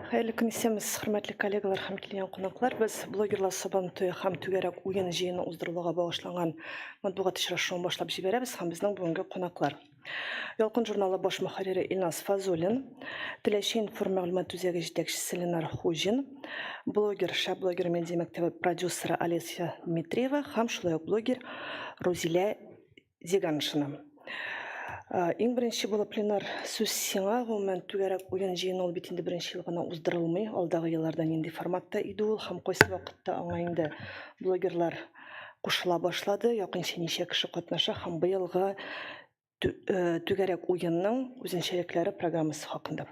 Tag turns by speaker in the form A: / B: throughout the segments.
A: Хәерле көн исәмез, хөрмәтле коллегалар һәм килгән кунаклар. Без блогерлар Сабантуе һәм түгәрәк уен җыены уздырылуга багышланган матбугат очрашуын башлап җибәрәбез һәм безнең бүгенге кунаклар. Ялкын журналы баш мөхәррире Илназ Фазулин, Теләче информ мәгълүмат үзәге җитәкчесе Ленар Хуҗин, блогер, шәп блогер медиа мәктәбе продюсеры Олеся Дмитриева һәм шулай ук блогер Рузилә Дигән ышанам. Э, иң беренче булып пленар сүз сиңа гомумән түгәрәк уен җыены ул бит инде беренче ел гына уздырылмый алдагы елларда нинди форматта иде ул һәм кайсы вакытта аңа инде блогерлар кушыла башлады якынча ничә кеше катнаша һәм быелгы э, түгәрәк уенның үзенчәлекләре программасы хакында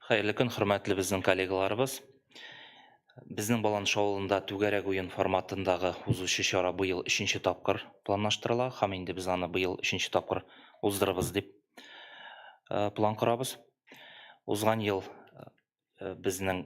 B: Хәерле көн, хөрмәтле безнең коллегаларыбыз. Безнең Баланш авылында түгәрәк уен форматындагы узучы чара быел өченче тапкыр планлаштырыла һәм инде без аны быел өченче тапкыр уздырырбыз дип э, план корабыз. Узган ел э, безнең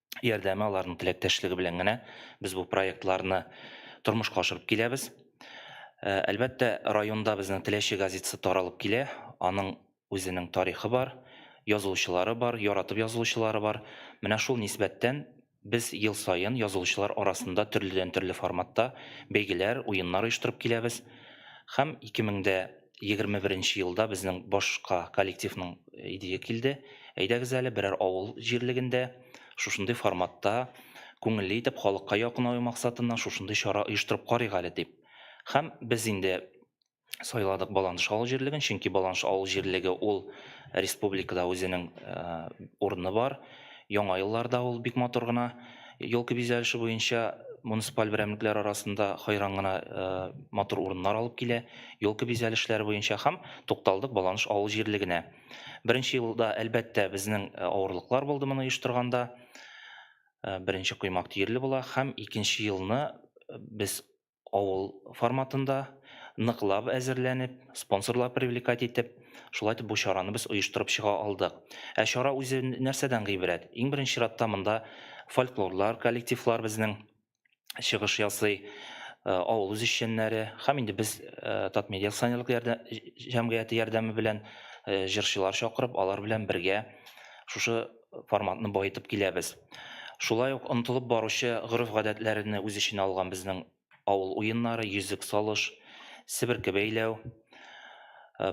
B: ярдәме, аларның теләктәшлеге белән генә без бу проектларны тормышка ашырып киләбез. Э, әлбәттә, районда безнең Теләче газетасы таралып килә. Аның үзенең тарихы бар, язылучылары бар, яратып язылучылары бар. Менә шул нисбәттән без ел саен язылучылар арасында төрледән төрле форматта бәйгеләр, уеннар оештырып киләбез. Һәм 2000 дә Егерме беренче елда безнең башка коллективның идее килде, әйдәгез әле, берәр авыл җирлегендә шушындый форматта, күңелле итеп, халыкка якынаю максатыннан шушындый чара оештырып карыйк әле дип. Һәм без инде сайладык Баланыш авыл җирлеген, чөнки Баланыш авыл җирлеге ул республикада үзенең урыны бар. Яңа елларда ул бик матур гына. Елка бизәлеше буенча муниципаль берәмлекләр арасында хайран гына э, матур урыннар алып килә. Елка бизәлешләре буенча һәм тукталдык Баланыш авыл җирлегенә. Беренче елда, әлбәттә, безнең э, авырлыклар булды моны оештырганда. Э, беренче коймак тиерле була һәм икенче елны без авыл форматында ныклап әзерләнеп, спонсорлар привлекать итеп, шулай итеп бу чараны без оештырып чыга алдык. Ә чара үзе нәрсәдән гыйбрәт? Иң беренче чиратта монда фольклорлар, коллективлар безнең чыгыш ясый, э, авыл үзешчәннәре һәм инде без э, Татмедиа акционерлык ярдәм, җәмгыяте ярдәме белән э, җырчылар чакырып, алар белән бергә шушы форматны баетып киләбез. Шулай ук онытылып баручы гореф-гадәтләрне үз эченә алган безнең авыл уеннары, йөзек салыш, себерке бәйләү,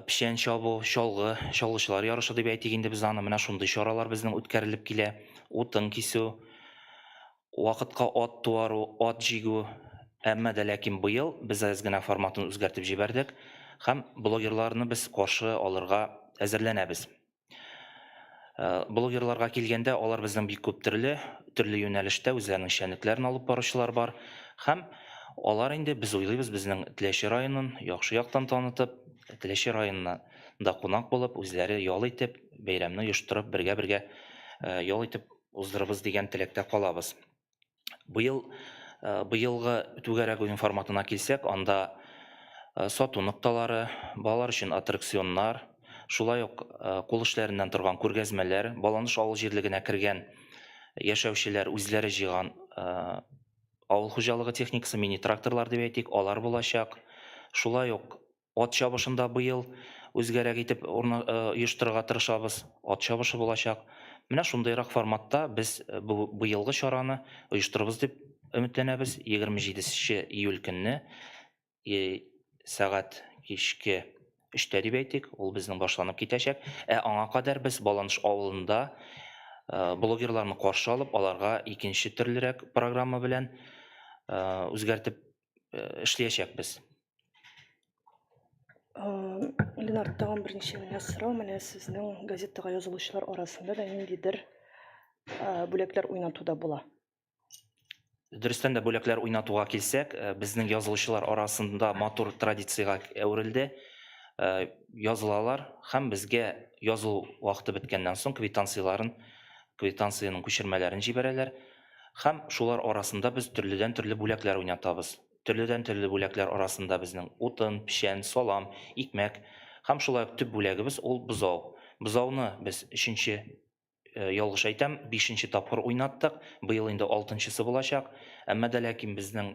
B: печән чабу, чалгы, чалгычылар ярышы дип әйтик инде без аны, менә шундый чаралар безнең үткәрелеп килә. Утын кисү, вакытка ат туару, ат җигү. Әмма дә ләкин быел без әз генә форматын үзгәртеп җибәрдек һәм блогерларны без каршы алырга әзерләнәбез. Э, блогерларга килгәндә алар безнең бик күп төрле төрле юнәлештә үзләренең эшчәнлекләрен алып баручылар бар һәм алар инде без уйлыйбыз безнең теләче районын яхшы яктан танытып теләче районына да кунак булып үзләре ял итеп бәйрәмне оештырып бергә бергә э, ял итеп уздырыбыз дигән теләктә калабыз Быел быелгы түгәрәк уен форматына килсәк, анда сату нокталары, балалар өчен аттракционнар, шулай ук кул эшләреннән торган күргәзмәләр, Баланыш авыл җирлегенә кергән яшәүчеләр үзләре җыйган авыл хуҗалыгы техникасы, мини-тракторлар дип әйтик, алар булачак. Шулай ук Ат чабышында быел үзгәрәк итеп оештырырга тырышабыз. Ат чабышы булачак. Менә шундыйрак форматта без быелгы чараны оештырырбыз дип өметләнәбез. 27 нче июль көнне сәгать кичке өчтә дип әйтик, ул безнең башланып китәчәк. Ә аңа кадәр без Баланыш авылында блогерларны каршы алып, аларга икенче төрлерәк программа белән үзгәртеп эшләячәкбез.
A: Ленар, тагын берничә генә сорау. Менә сезнең газетага язылучылар арасында да ниндидер бүләкләр уйнатуда була.
B: Дөрестән дә бүләкләр уйнатуга килсәк, безнең язылучылар арасында матур традициягә әверелде. Язылалар һәм безгә язылу вакыты беткәннән соң квитанцияләрен, квитанциянең күчермәләрен җибәрәләр. Һәм шулар арасында без төрледән-төрле бүләкләр уйнатабыз. Төрледән-төрле бүләкләр арасында безнең, утын, печән, салам, икмәк һәм шулай ук төп бүләгебез ул бозау. Бозауны без өченче, ялгыш әйтәм, бишенче тапкыр уйнаттык, быел инде алтынчысы булачак. Әмма дә ләкин безнең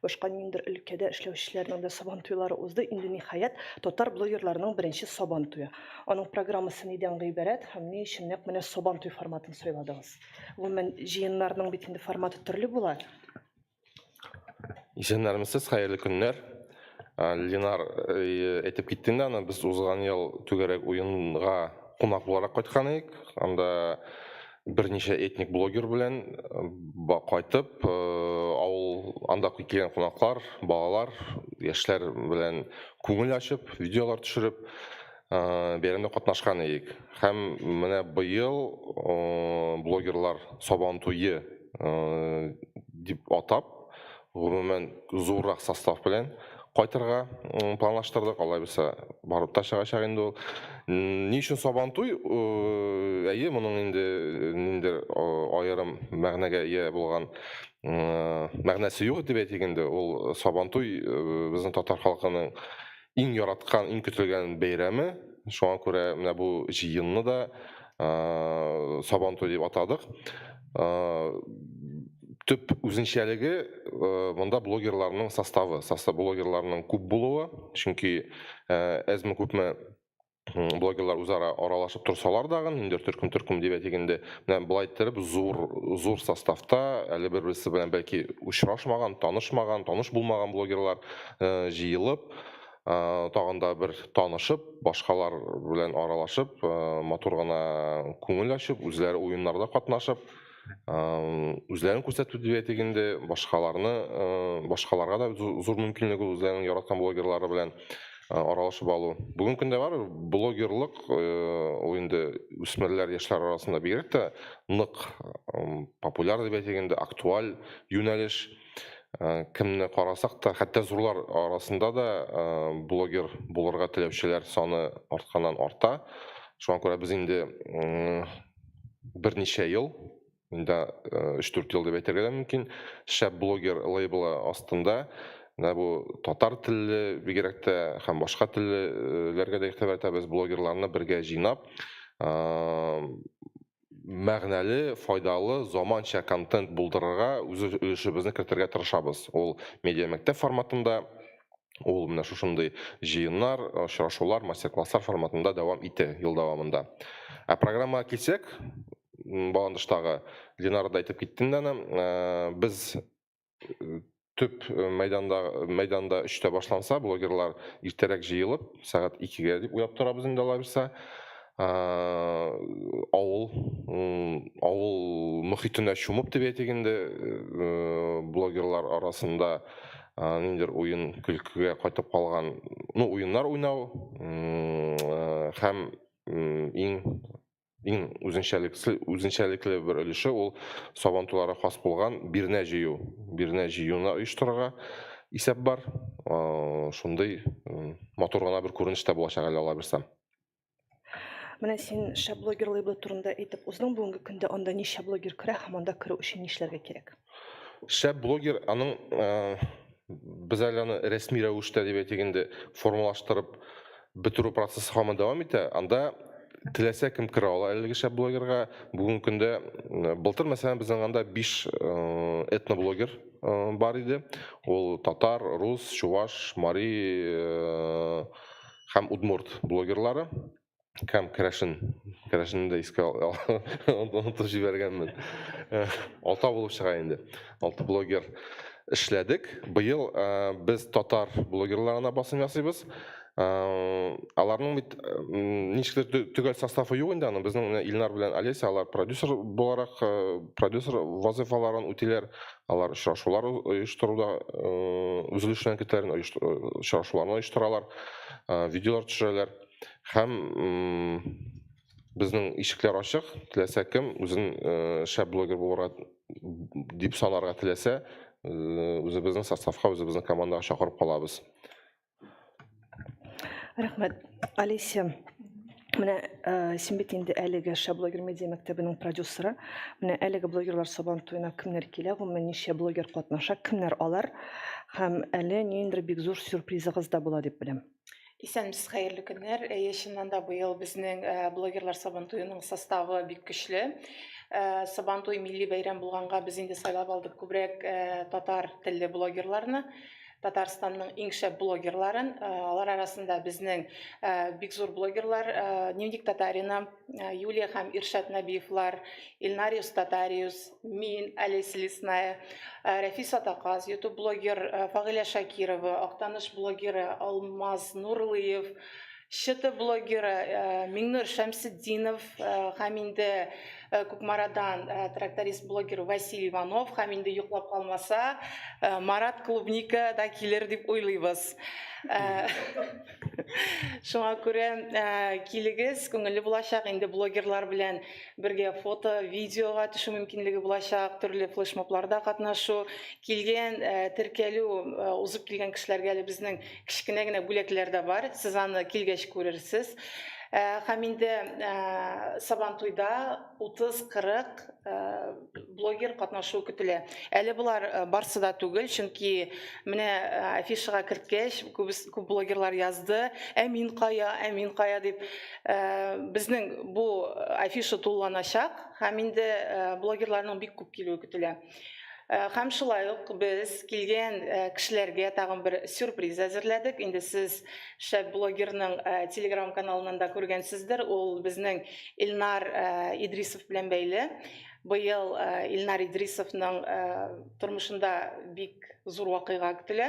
A: Башка ниндидер өлкәдә эшләүчеләрнең дә Сабан туйлары узды. Инде ниһаять татар блогерларының беренче Сабан туе. Аның программасы нидән гыйбарәт һәм ни өчен нәкъ менә Сабан туй форматын сайладыгыз? Гомумән, җыеннарның бит инде форматы төрле була.
C: Исәннәрмесез, хәерле көннәр. Ленар әйтеп китте инде аны, без узган ел түгәрәк уенга кунак буларак кайткан идек. Анда берничә этник блогер белән кайтып, авыл анда килгән кунаклар, балалар, яшьләр белән күңел ачып, видеолар төшереп, бәйрәмдә катнашкан идек. Һәм менә быел блогерлар Сабан туе дип атап, Гомумән, зуррак состав белән кайтырга планлаштырдык, алай булса барып та чыгачак инде ул. Ни өчен Сабантуй? Әйе, моның инде ниндидер аерым мәгънәгә ия булган мәгънәсе юк дип әйтик инде. Ул Сабантуй безнең татар халкының иң яраткан, иң көтелгән бәйрәме. Шуңа күрә менә бу җыенны да Сабан туй дип атадык. Төп үзенчәлеге монда блогерларның составы, состав блогерларның күп булуы, чөнки әзме күпме блогерлар үзара аралашып торсалар дагы ниндидер төркем төркем дип әйтик инде менә былай иттереп зур зур составта әле бер берсе белән бәлки очрашмаган танышмаган таныш булмаган блогерлар э, җыелып э, тагын да бер танышып башкалар белән аралашып э, матур гына күңел ачып үзләре уеннарда катнашып үзләрен күрсәтү дибәтик инде башкаларны башкаларга да зур мөмкинлек ул үзләренең яраткан блогерлары белән аралашып алу бүгенге көндә бар блогерлык ул инде үсмерләр яшьләр арасында бигрәк тә нык популяр дип әйтик инде актуаль юнәлеш кемне карасак та хәтта зурлар арасында да блогер булырга теләүчеләр саны артканнан арта шуңа күрә без инде берничә ел, инде 3-4 ел дип әйтергә дә мөмкин, шәп блогер лейблы астында менә бу татар телле, бигрәк тә һәм башка теллеләргә дә игътибар итәбез, блогерларны бергә җыйнап, мәгънәле, файдалы, заманча контент булдырырга, үз өлешебезне кертергә тырышабыз. Ул медиамәктәп форматында Ул менә шушындый җыеннар, очрашулар, мастер-класслар форматында дәвам итә ел дәвамында. Ә программага килсәк, баландыштагы Ленара да әйтеп китте инде аны, э, без э, төп э, мәйданда мәйданда өчтә башланса, блогерлар иртәрәк җыелып, сәгать икегә дип уйлап торабыз инде алабызса. авыл авыл мөхитенә чумып дип әйтик инде блогерлар арасында ниндидер уен көлкегә кайтып калган ну уеннар уйнау һәм иң иң үзенчәлекле үзенчәлекле бер өлеше ул сабантуйларга хас булган бирнә җыю бирнә җыюны оештырырга исәп бар шундый матур гына бер күренеш тә булачак әле алла бирсә
A: Менә син шәп блогер лейблы турында әйтеп уздың, бүгенге көндә анда ничә блогер керә һәм анда керү өчен нишләргә кирәк? Шәп
C: блогер аның без әле аны рәсми рәвештә дип әйтик инде формалаштырып бетерү процессы һаман дәвам итә. Анда теләсә кем керә ала әлеге шәп блогерга. Бүгенге көндә былтыр мәсәлән безнең анда 5 этноблогер бар иде. Ул татар, рус, чуваш, мари һәм удмурт блогерлары һәм керәшен керәшенне дә искә онытып җибәргәнмен алта булып чыга инде алты блогер эшләдек быел без татар блогерларына басым ясыйбыз аларның бит ничектер төгәл составы юк инде аның безнең илнар белән олеся алар продюсер буларак продюсер вазыйфаларын үтиләр Алар очрашулар оештыруда үзлешенә китәләр, очрашуларны оештыралар, видеолар төшерәләр һәм безнең ишекләр ачык, теләсә кем үзен шәп блогер булырга дип санарга теләсә, үзебезнең составка, үзебезнең командага чакырып калабыз.
A: рахмет алеся менә э, син бит инде әлеге шаблогер медиа мәктәбенең продюсеры менә әлеге блогерлар сабан туена кемнәр килә гомумән ничә блогер катнаша кемнәр алар һәм әле ниндидер бик зур сюрпризыгыз да була дип беләм Исәнмесез, хәерле
D: көннәр. Әйе, чыннан да быел безнең э, блогерлар Сабантуеның составы бик көчле. Э, Сабантуй милли бәйрәм булганга без инде сайлап алдык күбрәк э, татар телле блогерларны. Татарстанның иң шәп блогерларын, э, алар арасында безнең э, бик зур блогерлар э, Дневник Татарина, Юлия һәм Иршат Нәбиевлар, Илнариус Татариус, мин, Олеся Лесная, Рәфис Атаказ, YouTube блогер Фагыля Шакирова, Актаныш блогеры Алмаз Нурлыев, Чыты блогеры Миңнур Шәмсетдинов һәм инде Кукмарадан тракторист блогер Василий Иванов һәм инде йоклап калмаса Марат Клубника да килер дип уйлыйбыз. Шуңа күрә килегез, күңелле булачак. Инде блогерлар белән бергә фото, видеога төшү мөмкинлеге булачак, төрле флешмобларда катнашу. Килгән, теркәлү узып килгән кешеләргә әле безнең Кечкенә генә бүләкләр дә бар, сез аны килгәч күрерсез. Ә, һәм инде ә, Сабантуйда 30-40 ә, блогер катнашу көтелә. Әле болар ә, барсы да түгел, чөнки менә ә, афишага керткәч, күп, күп блогерлар язды, ә мин кая, ә мин кая дип. Ә, безнең бу афиша тулыланачак, һәм инде ә, блогерларның бик күп килүе көтелә. Э, һәм шулай ук без килгән э, кешеләргә тагын бер сюрприз әзерләдек инде сез шәп блогерның э, телеграм каналынан да күргәнсездер ул безнең илнар идрисов белән бәйле быел илнар идрисовның тормышында бик зур вакыйга көтелә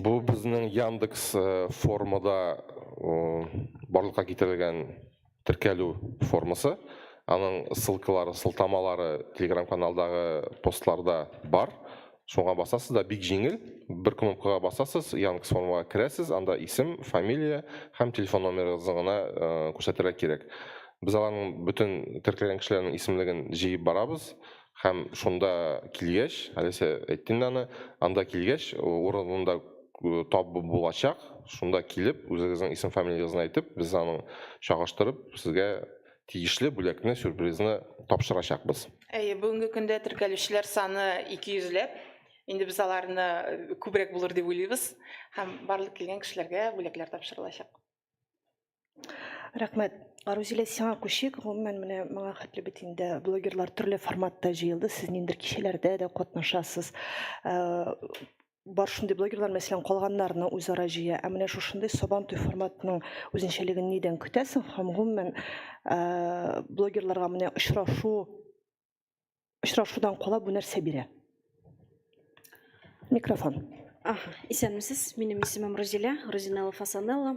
C: Бу безнең Яндекс формада барлыкка китерелгән теркәлү формасы. Аның ссылкалары, сылтамалары Telegram каналдагы постларда бар. Шуңа басасыз да бик җиңел. Бер кнопкага басасыз, Яндекс формага керәсез, анда исем, фамилия һәм телефон номерыгызны гына күрсәтергә кирәк. Без аларның бөтен теркәлгән кешеләрнең исемлеген җыеп барабыз. Һәм шунда килгәч, әлесе әйтте инде аны, анда килгәч, урынында табу булачак, шунда килеп, үзегезнең исем-фамилиягезне әйтеп, без аның чагыштырып, сезгә тиешле бүләкне, сюрпризны тапшырачакбыз. Әйе, бүгенге көндә
D: теркәлүчеләр саны 200 ләп. Инде без аларны күбрәк булыр дип уйлыйбыз. Һәм барлык килгән кешеләргә бүләкләр тапшырылачак.
A: рәхмәт рузилә сиңа күчик гомумән менә моңа хәтле бит инде блогерлар төрле форматта җыелды сез ниндидер кичәләрдә дә катнашасыз бар шундый блогерлар мәсәлән калганнарны үзара җыя ә менә шушындый сабантуй форматының үзенчәлеген нидән көтәсең һәм гомумән блогерларга менә очрашу очрашудан кала бу нәрсә бирә? Микрофон. Аха, исәнмесез.
E: Минем исемем Розилә, Розинелла Фасанелла.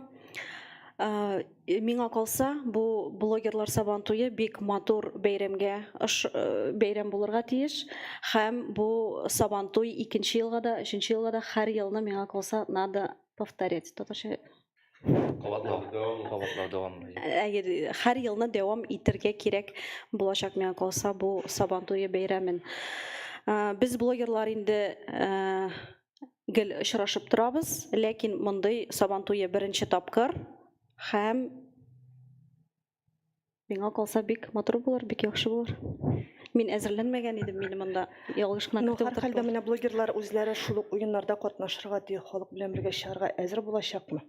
E: Э, миңа калса, бу блогерлар сабан туе бик матур бәйрәмгә э, бәйрәм булырга тиеш. Һәм бу сабан туй икенче елга да, өченче елга да һәр елны миңа калса надо повторять. Татарча Кабатлау.
B: Кабатлау дәвамлы. Әйе, һәр
E: елны дәвам итәргә кирәк булачак миңа калса бу Сабан туе бәйрәмен. Без блогерлар инде гел очрашып торабыз, ләкин мондый Сабан туе беренче тапкыр һәм миңа калса бик матур булыр бик яхшы булыр мин әзерләнмәгән идем мине монда ялгыш кына көтеп утырдылар хәлдә менә блогерлар
A: үзләре шул ук уеннарда катнашырга ди халык белән бергә чыгарга әзер булачакмы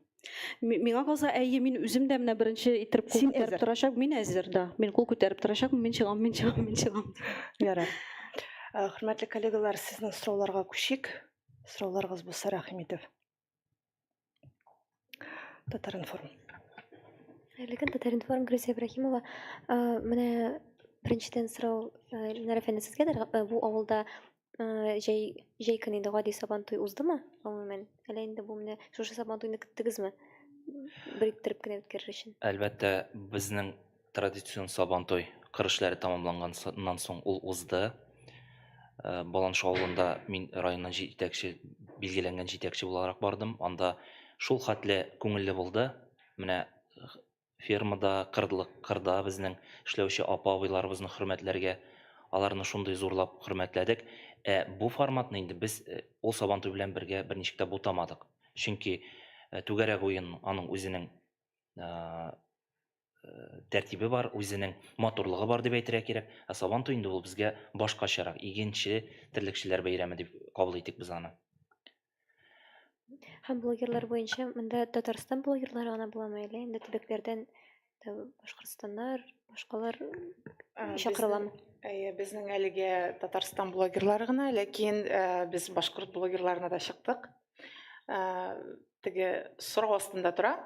E: миңа калса әйе мин үзем дә менә беренче иттереп кул күтәреп торачак мин әзер да мин кул күтәреп торачакмын мин чыгам мин чыгам мин чыгам ярар
A: хөрмәтле коллегалар сезнең сорауларга күчик сорауларыгыз булса рәхим итеп Татаринформ.
F: Хәерле көн, Татаринформ, Грюзия Ибрахимова. Менә беренчедән сорау Ленар әфәнде сезгәдер. Бу авылда җәй җәй көне инде гади сабан туй уздымы? Гомумән, әллә инде бу менә шушы сабан туйны көттегезме? Бериттереп кенә үткәрер өчен. Әлбәттә, безнең
B: Традицион Сабантуй кыр эшләре тәмамланганнан соң ул узды. Э, Баланш авылында мин районнан җитәкче, билгеләнгән җитәкче буларак бардым. Анда шул хәтле күңелле булды. Менә э, фермада, кырдлык, кырда безнең эшләүче апа-абыйларыбызны хөрмәтләргә, аларны шундый зурлап хөрмәтләдек. Ә бу форматны инде без э, ул Сабантуй белән бергә берничек тә бутамадык. Чөнки э, түгәрәк уен аның үзенең э, тәртибе бар, үзенең матурлыгы бар дип әйтергә кирәк. Ә Сабан туе инде ул безгә башкачарак, игенче, терлекчеләр бәйрәме дип кабул итик без аны.
F: Һәм блогерлар буенча монда Татарстан блогерлары гына буламы әле? Инде төбәкләрдән Башкортстаннар, башкалар чакырыламы? Әйе, безнең
D: әлегә Татарстан блогерлары гына, ләкин без башкорт блогерларына да чыктык. теге сорау астында тора.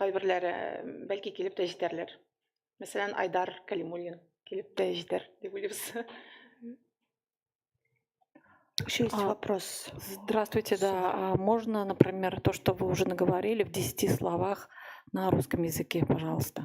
D: Кайберләре бәлки килеп тә җитәрләр. Мәсәлән, Айдар Калимуллин килеп тә җитәр дип уйлыйбыз. Еще
A: есть а, вопрос. Здравствуйте, да.
G: А можно, например, то, что вы уже наговорили в десяти словах на русском языке, пожалуйста?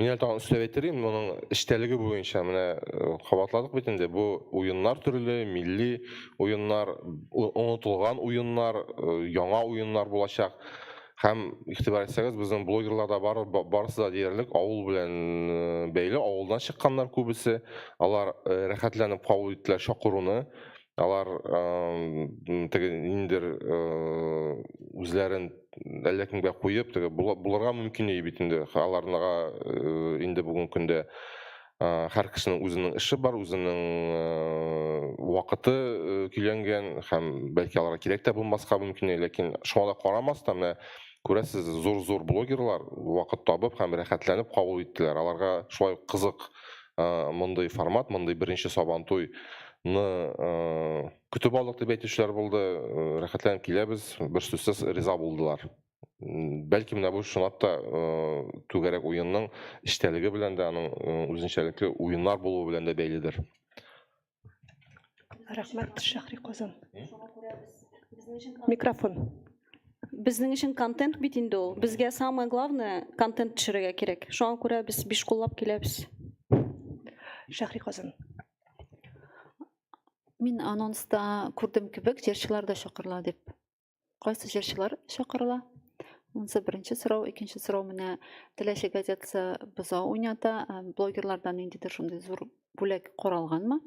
C: Мин әле тагын өстәп әйтерим, моның эчтәлеге буенча менә э, кабатладык бит инде. Бу уеннар төрле, милли уеннар, онытылган уеннар, э, яңа уеннар булачак. Һәм игътибар итсәгез, безнең блогерлар да бар, барысы да диярлек авыл белән э, бәйле, авылдан чыкканнар күбесе. Алар рәхәтләнеп кабул иттеләр чакыруны. алар теге ниндидер үзләрен әллә кемгә куеп теге булырга мөмкин ие бит инде аларга инде бүгенге көндә һәр кешенең үзенең эше бар үзенең вакыты көйләнгән һәм бәлки аларга кирәк тә булмаска мөмкин ләкин шуңа да карамастан менә күрәсез зур зур блогерлар вакыт табып һәм рәхәтләнеп кабул иттеләр аларга шулай кызык мондый формат мондый беренче сабантуй э, көтеп алдык дип әйтүчеләр булды, э, рәхәтләнеп киләбез, бер сүзсез риза булдылар. Бәлки менә бу чынлап та э, түгәрәк уенның эчтәлеге белән дә, аның үзенчәлекле уеннар булуы белән дә бәйледер.
A: Рәхмәт, Шәхри Казан. Микрофон. Безнең
E: өчен контент бит инде ул. Безгә самое главное контент төшерергә кирәк. Шуңа күрә без биш куллап киләбез.
A: Шәхри Казан.
G: Мин анонста күрдем кебек, җырчылар да чакырыла дип. Кайсы җырчылар чакырыла? Монысы беренче сорау. Икенче сорау менә Теләче газетасы боза уйната. Э, блогерлардан ниндидер шундый зур бүләк каралганмы?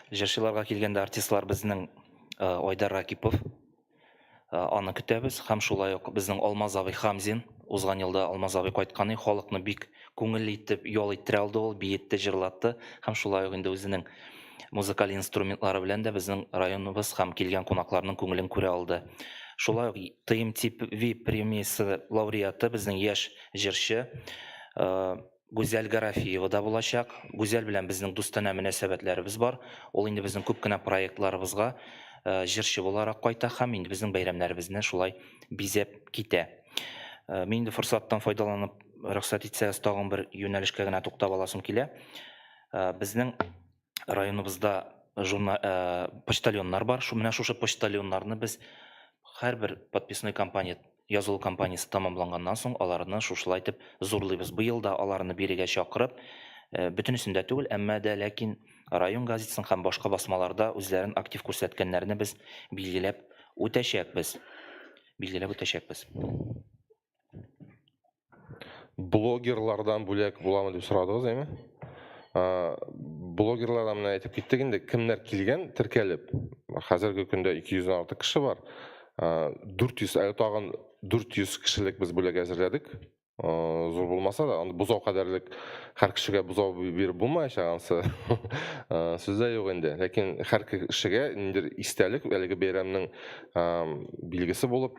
B: Җырчыларга килгәндә артистлар безнең э, Айдар Ракипов. Э, аны көтәбез һәм шулай ук безнең Алмаз абый Хамзин. Узган елда Алмаз абый кайткан и халыкны бик күңелле итеп ял иттерә алды ул, биетте, җырлатты һәм шулай ук инде үзенең музыкаль инструментлары белән дә безнең районыбыз һәм килгән кунакларның күңелен күрә алды. Шулай ук ТМТ VIP премиясе лауреаты безнең яшь җырчы э, Гүзәл Гарафиева да булачак. Гүзәл белән безнең дустанә мөнәсәбәтләребез бар. Ул инде безнең күп кенә проектларыбызга җырчы буларак кайта һәм инде безнең бәйрәмнәребезне шулай бизәп китә. Мин инде форсаттан файдаланып, рөхсәт итсәгез, тагын бер юнәлешкә генә туктап аласым килә. Безнең районыбызда журна, ә, почтальоннар бар. Шу менә шушы почтальоннарны без һәрбер подписной кампания язылу кампаниясе тәмамланганнан соң аларны шушылай итеп зурлыйбыз. Быел да аларны бирегә чакырып, э, бөтенесен дә түгел, әмма дә ләкин район газетасын һәм башка басмаларда үзләрен актив күрсәткәннәрне без билгеләп үтәчәкбез. Билгеләп үтәчәкбез.
C: блогерлардан бүләк буламы дип сорадыгыз әйме блогерлардан менә әйтеп киттек инде кемнәр килгән теркәлеп хәзерге көндә 200 дән артык кеше бар 400 әле тагын 400 кешелек без бүләк әзерләдек зур булмаса да аны бозау кадәрлек һәр кешегә бозау биреп булмаячак ансы сүз дә юк инде ләкин һәр кешегә ниндидер истәлек әлеге бәйрәмнең билгесе булып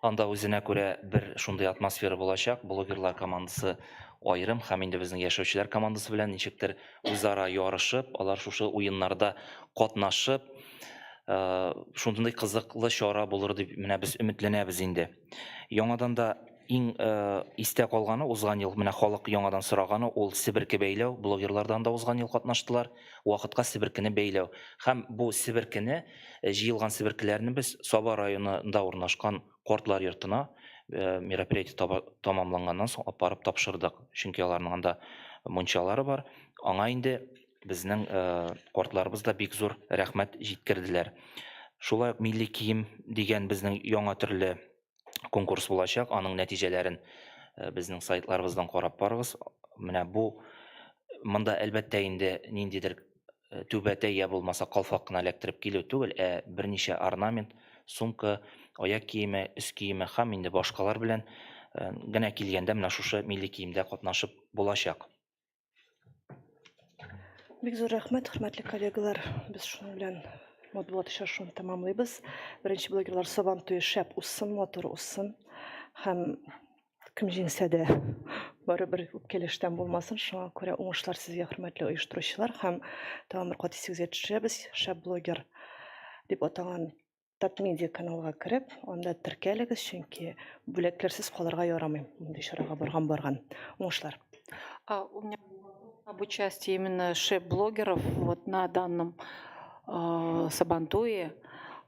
C: Анда үзенә күрә
B: бер шундый атмосфера булачак, блогерлар командасы аерым һәм инде безнең яшәүчеләр командасы белән ничектер үзара ярышып, алар шушы уеннарда катнашып, шундый кызыклы чара булыр дип менә без өметләнәбез инде. Яңадан да иң истә калганы узган ел менә халык яңадан сораганы ул себерке бәйләү, блогерлар да анда узган ел катнаштылар, вакытка себеркене бәйләү һәм бу себеркене Э, җыелган себеркеләрне без Саба районында урнашкан кортлар йортына э, мероприятие тамамланганнан соң алып барып тапшырдык. Чөнки аларның анда мунчалары бар. Аңа инде безнең э, кортларыбыз да бик зур рәхмәт җиткерделәр. Шулай ук милли кием дигән безнең яңа төрле конкурс булачак. Аның нәтиҗәләрен э, безнең сайтларыбыздан карап барыгыз. Менә бу монда әлбәттә инде ниндидер э, түбәтәй я булмаса калфак кына эләктереп килү түгел, ә берничә орнамент, сумка, аяк киеме, өс киеме һәм инде башкалар белән э, генә килгәндә менә шушы милли киемдә катнашып булачак.
A: Бик зур рәхмәт, хөрмәтле коллегалар. Без шуның белән матбугат очрашуын тәмамлыйбыз. Беренче блогерлар Сабан туе шәп уссын, матур уссын. Һәм кем җиңсә дә барыбер үпкәләштән булмасын. Шуңа күрә уңышлар сезгә, хөрмәтле оештыручылар. Һәм тагын бер кат исегезгә төшерәбез, шәп блогер дип атаган Татмедиа каналга кереп, анда теркәлегез, чөнки бүләкләрсез калырга ярамый. Мондый чарага барган барган. Уңышлар. А, у
G: меня об участии именно шеф-блогеров вот на данном э, Сабантуе.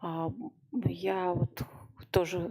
G: Э, я вот тоже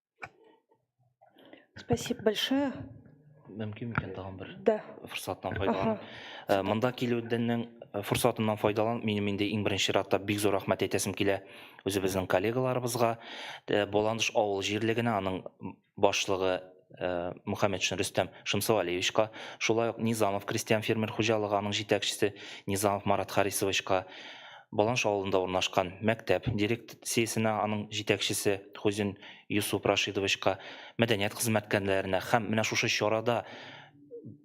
A: Спасибо большое. Мөмкин
B: микән тагын бер? Да. Форсаттан
A: файдалан. Э,
B: монда килүдәннең э, форсатыннан файдалан, минем инде иң беренче чиратта бик зур рәхмәт әйтәсем килә үзебезнең коллегаларыбызга. Э, Боландыш авыл җирлегенә аның башлыгы Э, Мухаммедшин Рөстәм Шымсуалиевичка, шулай ук Низамов крестьян фермер хуҗалыгы аның җитәкчесе Низамов Марат Харисовичка, Баланш авылында урнашкан мәктәп дирек циясенә, аның җитәкчесе Хозин Йосуп Рашидовичка, мәдәният хезмәткәрләренә һәм менә шушы чарада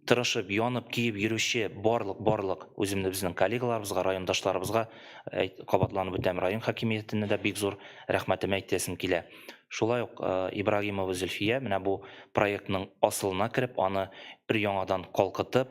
B: тырышып, янып, көеп йөрүче барлык, барлык үземне безнең коллегаларыбызга, райондашларыбызга кабатланып үтәм, район хакимиятенә дә бик зур рәхмәтемә әйтәсем килә. Шулай ук Ибрагимова Зөлфия менә бу проектның асылына кереп, аны өр-яңадан калкытып,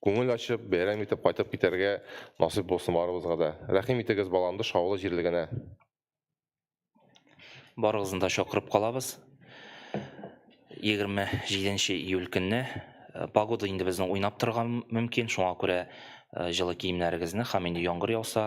C: Күңел ачып, бәйрәм итеп кайтып китәргә насыйп булсын барыбызга да. Рәхим итегез Баландыш авылы җирлегенә.
B: Барыгызны да чакырып калабыз. 27 июль көнне э, погода инде безнең уйнап торган мөмкин, шуңа күрә э, җылы киемнәрегезне һәм инде яңгыр яуса,